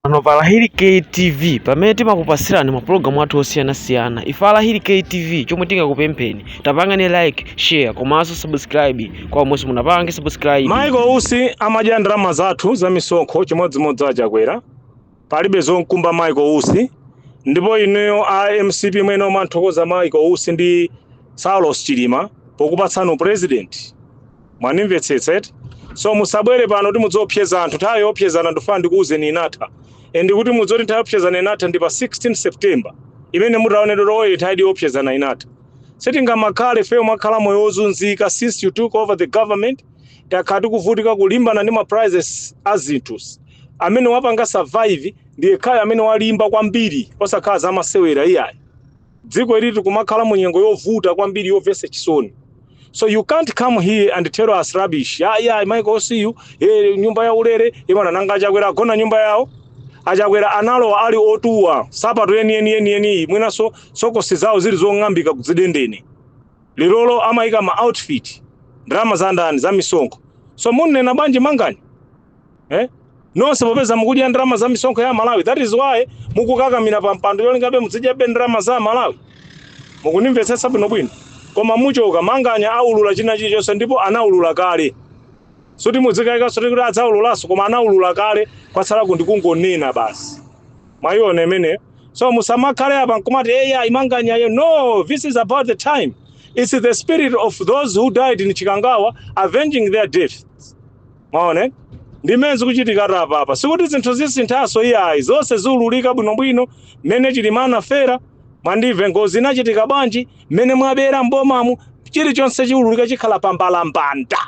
Pano pa Lahiri KTV pamene timakupasirani mapulogalamu athu osiyanasiyana ife a Lahiri KTV chomwe tingakupempheni tapangani like share komanso subscribe kwa omwe simunapange subscribe Michael Usi amadya ndalama zathu za misonkho chimodzimodzi a Chakwera palibe zomkumba Michael Usi ndipo inuyo a MCP mwayenera kumanthokoza Michael Usi ndi Saulos Chilima pokupatsani u president mwanimvetsetsa eti so musabwere pano kuti mudziopseza anthu nthawi yoopsezana ndifuna ndikuwuzeni inatha and kuti mudziwe zoti nthawi yoopsezana inatha ndi pa 16 september imene mutaonedwa kuti oye nthawi yoopsezana inatha sitingamakhale feyo kumakhala moyo wozunzika since you took over the government takhala tikuvutika kulimbana ndi ma prices a zinthu amene wapanga survive ndi yekhayo amene walimba kwambiri osakhala zamasewera iyayi dziko ili tikumakhala mu nyengo yovuta kwambiri yomvetsa chisoni So you can't come here and tell us rubbish. Yeah, yeah, Michael Usiyu, eh, nyumba ya ulere, imene nanga a Chakwera agona nyumba yawo. A Chakwera analowa ali otuwa, sapato yeni yeni yeni yeni, mwinanso sokosi zawo zili zong'ambika kudzidendene. Lerolo amayika ma outfit, ndalama za ndani za misonkho. So mumanena bwanji Manganya? eh? nonse popeza mukudya ndalama za misonkho ya amalawi that is why mukukakamira pa mpando yolingabe mudzidyabe ndalama za amalawi mukundimvetsetsa bwinobwino koma muchoka manganya aulula china chilichonse ndipo anaulula kale musati mudzikayikanso kuti adzaululanso koma anaulula kale kwatsalaku ndi kungonena basi mwayiona imeneyo so musamakhale apa nkumati eya a manganyayo no this is about the time it's the spirit of those who died in chikangawa avenging their death Mwaona ndimene zikuchitikatu apapa, sikuti zinthu zisinthanso iyayi, zonse ziululika bwinobwino mmene Chilima anafera, mwandimva, ngozi inachitika bwanji, mmene mwabera m'bomamu, chilichonse chiululika chikhala pa mbalambanda,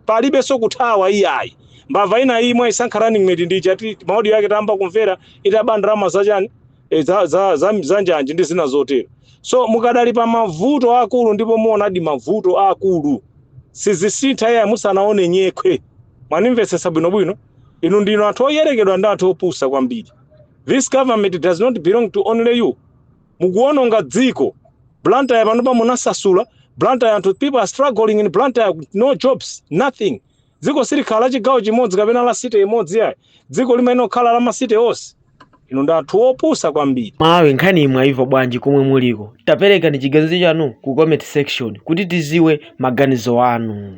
palibenso kuthawa iyayi. Mbava ina iyi mwaisankha running mate ndi ija ti maaudio yake tayamba kumvera itaba ndalama zachani e, za, za, za, za njanji ndi zina zotero so mukadali pa mavuto akulu ndipo muonadi mavuto akulu sizisintha iyayi musanaone nyekhwe mwanimvetsetsa bwinobwino inu ndinu anthu oyerekedwa ndi anthu opusa kwambiri this government does not belong to only you mukuononga dziko blantyre panopa munasasula blantyre anthu people are struggling in blantyre with no jobs nothing Dziko silikhala la chigawo chimodzi kapena la city imodzi yayi. Dziko limayenera kukhala la ma city onse. Inu ndi anthu opusa kwambiri. Amalawi nkhaniyi mwayimva bwanji komwe muliko taperekani chiganizo chanu ku comment section kuti tiziwe maganizo anu.